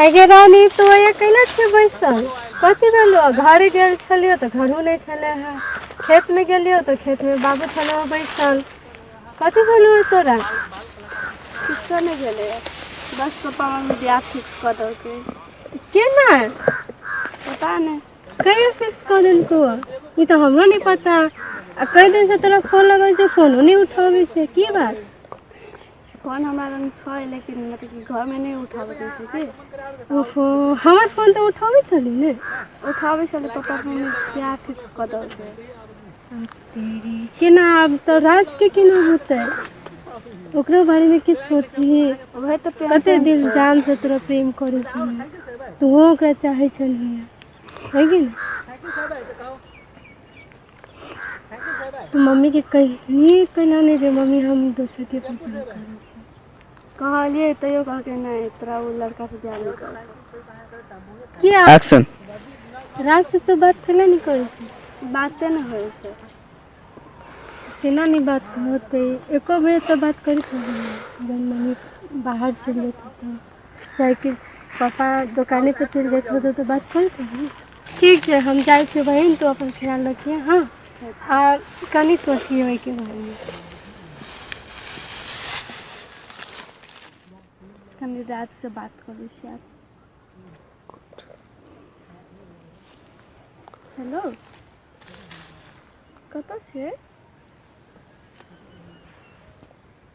आगे रानी तो ये कैला छे बैसल कथी भेलो घरे गेल छलियो तो घरो नहीं छले है खेत में गेलियो तो खेत में बाबू छलो बैसल कथी भेलो है तोरा किसको नहीं गेले है। बस पापा मम्मी ब्याह फिक्स कर दो के केना पता नहीं कहिया फिक्स कऽ देलकौ ह ई तऽ हमरो नहि पता आ कई दिन से तोरा फोन लगै छै फोनो नहि उठाबै छै की बात फोन हमरा लग छै लेकिन मतलब कि घरमे नहि उठाबैत दै छै की ओहो हमर फोन तऽ उठाबै छली ने उठाबै छलै पप्पा मम्मी किया फिक्स कऽ देलकै केना आब तऽ राजके केना होतै ओकरो बारेमे किछु सोचही उहे तऽ कते टेंशन दिल छै जान से तोरा प्रेम करै छौ तूहो ओकरा चाहै छलह है की तू मम्मी के कहि कना नहि दे मम्मी हम दोसर के पस कहलियै तैयो कहलकै नहि तोरा ओ लड़का से बियाह नहि करऽ किया एक्शन राज से तो बात केना नहि करै छै बाते ने होइ छै केना नहि बात होतै एको बेर तऽ बात करैत रहै जहन मम्मी बाहर चलि जेतै तऽ साइकिल पापा दोकाने पर चलि जाइत होतै तऽ बात करै छथिन ठीक छै हम जाइ छियै बहिन तू अपन ख्याल रखिहे हँ आ कनि सोचिहे ओहिके बारेमे कनि रातिसँ बात करै छी आब हेलो कतऽ छियै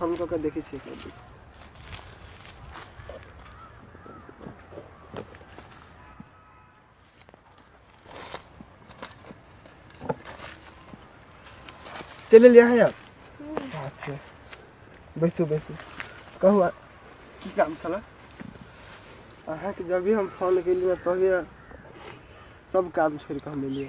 हम कऽ के देखै छियै एक रति चलि एलियै अहाँ यार अच्छा बैसू बैसू कहू आ- की काम छलए अहाँके जब भी हम फोन केलियै तभिए सब काम छोड़ि कऽ हम एलियै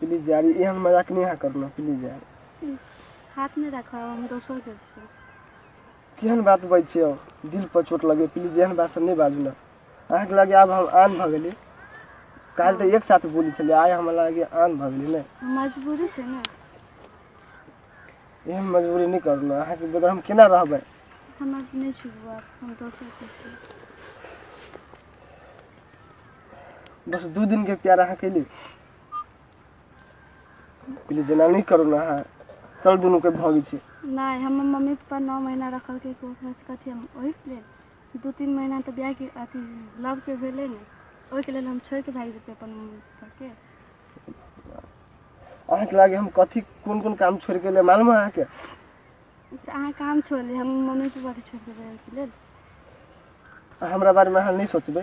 प्लीज यार एहन मजाक नहि अहाँ करना प्लीज यार हाथ नहि राखब हम दोसर के छी केहन बात बजै छियै दिल पर चोट लगे प्लीज एहन बात सब नहि बाजू ने अहाँके लगे आब हम आन भऽ गेली काल्हि तऽ एक साथ बोली छलै आइ हमरा लगे आन भऽ गेली नहि मजबूरी छै ने एहन मजबूरी नहि करू ने अहाँके बगैर हम केना रहबै हमर नहि छुबू आब हम दोसर के छी बस दू दिन के प्यार अहाँ कैली पहले जेना नहीं करो ना अहाँ तल दुनू के भगी छी नहीं हम मम्मी पापा नौ महीना रखल के को घर से कथी हम ओहि के लेल दू तीन महीना तो ब्याह के अथी लव के भेले ने ओहि के लेल हम छोड़ के भाग जेते अपन मम्मी पापा के अहाँ के लागे हम कथी कोन कोन काम छोड़ के ले मालूम है अहाँ के तो अहाँ काम छोड़ ली हम मम्मी पापा के छोड़ देबै ओहि के लेल हमरा बारे में अहाँ नहीं सोचबे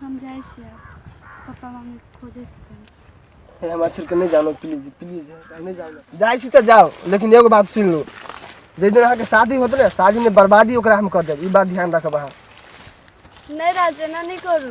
हम जाइ छियै पप्पा मम्मी खोजे हे हमरा छोड़ के नहीं जानो प्लीज प्लीज नहीं जानो जाइ छी त जाओ लेकिन एगो बात सुन लो जे दिन अहाँ के शादी होत ना शादी में बर्बादी ओकरा हम कर देब ई बात ध्यान रखब अहाँ नहीं राजना नहीं करू